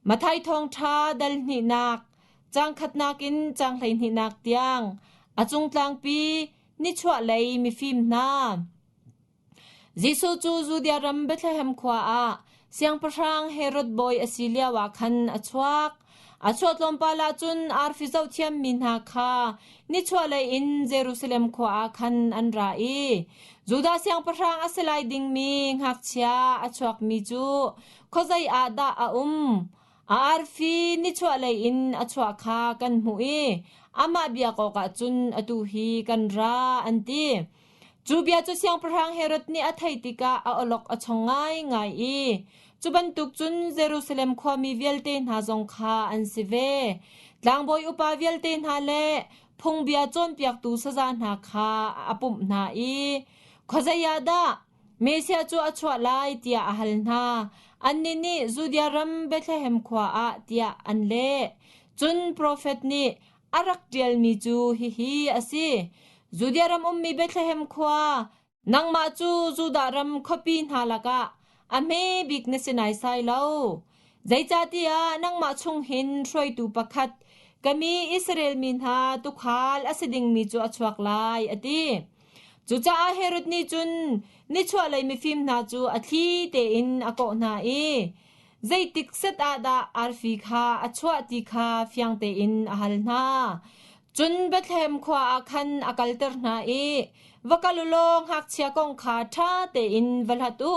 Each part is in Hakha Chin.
Mathai Thawngṭha dal hnihnak, caang khatnak in caang hleihnihnak tiang a cungtlangpi nichuahlei mifim hna. Jesuh cu Judea ram Bethlehem khua ah siangpahrang Herod bawi a si lio ah khan a chuak. A chuah tlawmpal ah cun arfi zohthiam mi hna kha nichuahlei in Jerusalem khua ah khan an ra i Judah siangpahrang a si lai dingmi ngakchia a chuakmi cu khuazei ah dah a um? A arfi nichuahlei in a chuah kha kan hmuh i amah biak awkah cun atu hi kan ra an ti. Cu bia cu siangpahrang Herod nih a theih tikah a awlok a chong ngaingai i cu bantuk cun Jerusalem khuami vialte hna zong kha an si ve. Tlangbawi upa vialte hna le phungbia cawnpiaktu saza hna kha a pumh hna i khuazei ah dah Mesia cu a chuah lai tiah a hal hna. Annih nih Judea ram Bethlehem khua ah tiah an leh. Cun profet nih a rak ṭialmi cu hihi a si: Judea ram ummi Bethlehem khua, nangmah cu Judah ram khuapi hna lakah a hmebik na si naisai lo. Zeicahtiah nangmah chung hin hruaitu pakhat, ka mi Israel mi hna tuukhal a si dingmi cu a chuak lai, a ti. Cucaah Herod nih cun nichuahlei mifim hna cu a thli tein a kawh hna i zeitik set ah dah arfi kha a chuah ti kha fiang tein a hal hna. Cun Bethlehem khua ah khan a kalter hna i, Va kal u law ngakchia kong kha ṭha tein va hlat u.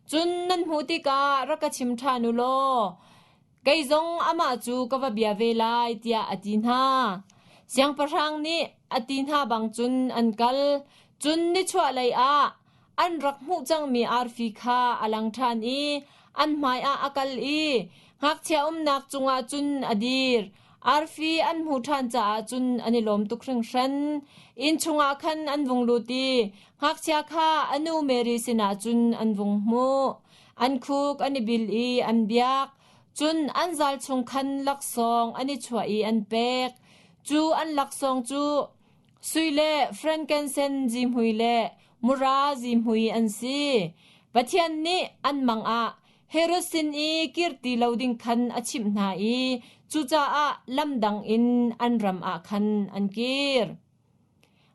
Cun nan hmuh tikah rak ka chim ṭhan u law, Kei zong amah cu ka va bia ve lai, tiah a ti hna. Siangpahrang nih a ti hna bang cun an kal. Cun nichuahlei ah an rak hmuh cangmi arfi kha a lang ṭhan i an hmaiah a kal i ngakchia umnak cungah cun a dir. Arfi an hmuh ṭhan caah cun an i lawm tuk hringhran. Inn chungah khan an vung lut i ngakchia kha a nu Mary sinah cun an vung hmuh. An khuk an i bil i an biak, cun an zal chung khan laksawng an i chuah i an pek. Cu an laksawng cu sui le frankincense zihmui le mura zihmui an si. Pathian nih an mangah Herod sin i kir ti lo ding khan a chimh hna i cucaah lam dang in an ram ah khan an kir.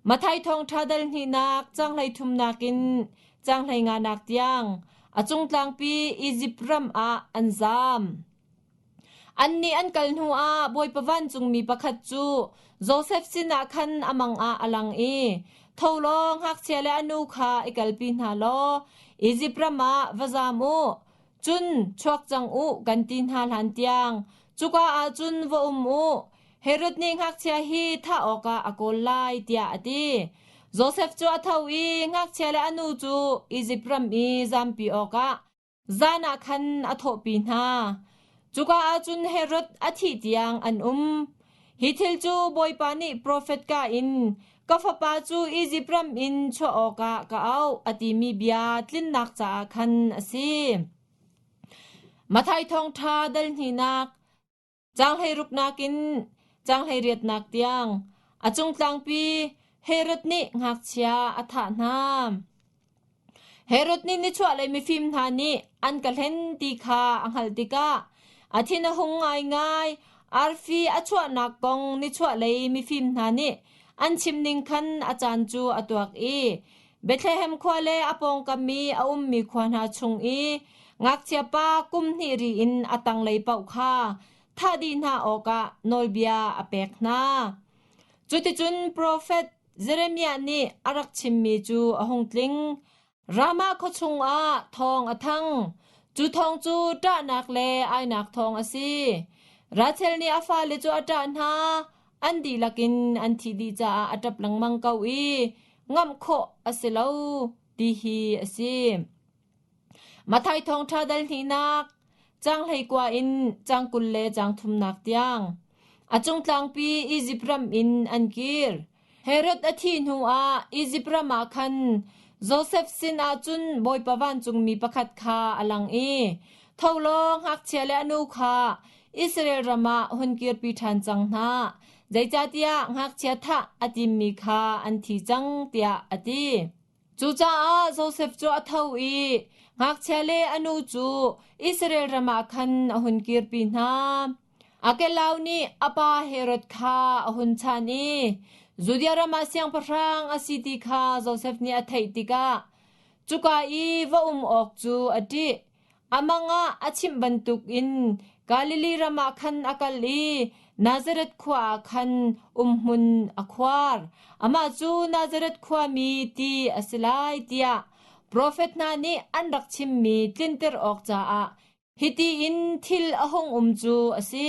Mathai thawngṭha dal hnihnak caanghhlei thumnak in caanghhlei nganak tiang a cungtlangpi Izipt ram ah an zaam. Annih an kal hnuah Bawipa vancungmi pakhat cu Josef sinah khan a mangah a lang i, “Tho law ngakchia le a nu kha i kalpi hna law Izipt ram ah va zaam u. Cun chuak cang u kan ti hna hlan tiang. Cuka ah cun va um u. Herod nih ngakchia hi thah awkah a kawl lai tiah a ti. Josef cu a tho i ngakchia le a nu cu Izipt ram i zampi awkah zan ah khan a thawhpi hna. Cuka ah cun Herod a thih tiang an um. Hi thil cu Bawipa nih profet ka in, Ka fapa cu Izipt ram in chuah awkah ka auh, a timi bia tlinnak caah khan a si. Mathai thawngṭha dal hninak, canghlei nakin canghlei riatnak tiang, a cung tlangpi Herod nih ngakchia a thah hna. Herod nih nichuahlei mifim hna nih an ka hlen ti kha a hngalh tikah a thin a hung ngaingai. Arfi a chuahnak kong nichuahlei mifim hna nih an chim ning khan a caan cu a tuak i Bethlehem khua le a pawngkam i a ummi khua hna chung i ngakchia pa kum hnih ri in a tanglei paoh kha thah dih hna awkah nawlbia a pek hna. Cuticun profet Jeremiah nih a rak chimmi cu a hung tling. Ramah khua chungah thawng a thang. Cu thawng cu ṭahnak le ainak thawng a si. Rachel nih a fale cu a ṭah hna. An dihlak in an thih dih caah a ṭap lengmang ko i ngamh khawh a si lo ti hi a si. Matthai thawngṭha dal hnihnak cang hleikua in cang kul le cang thumnak tiang a cung tlangpi Izipt ram in an kir. Herod a thih hnuah Izipt ram ah khan Josef sinah cun bawipa vancungmi pakhat kha a lang i tho law ngakchia le a nu kha Israel ram ah hun kirpi ṭhan cang hna, zeicahtiah ngakchia thah a timmi kha an thi cang tiah a ti. Cucaah Josef cu a tho i ngakchia le a nu cu Israel ram ah khan a hun kirpi hna. Arkelau nih a pa Herod kha a hun chan i Judea ram ah siangpahrang a si ti kha Josef nih a theih tikah cuka i va um awk cu a ṭih. A mangah a chimh bantukin Galilee ram ah khan a kal i Nazareth khua ah khan umhmun a khuar. Amah cu Nazareth khuami ti a si lai tiah profet hna nih an rak chimmi tlinter awk caah hiti in thil a hung um cu a si: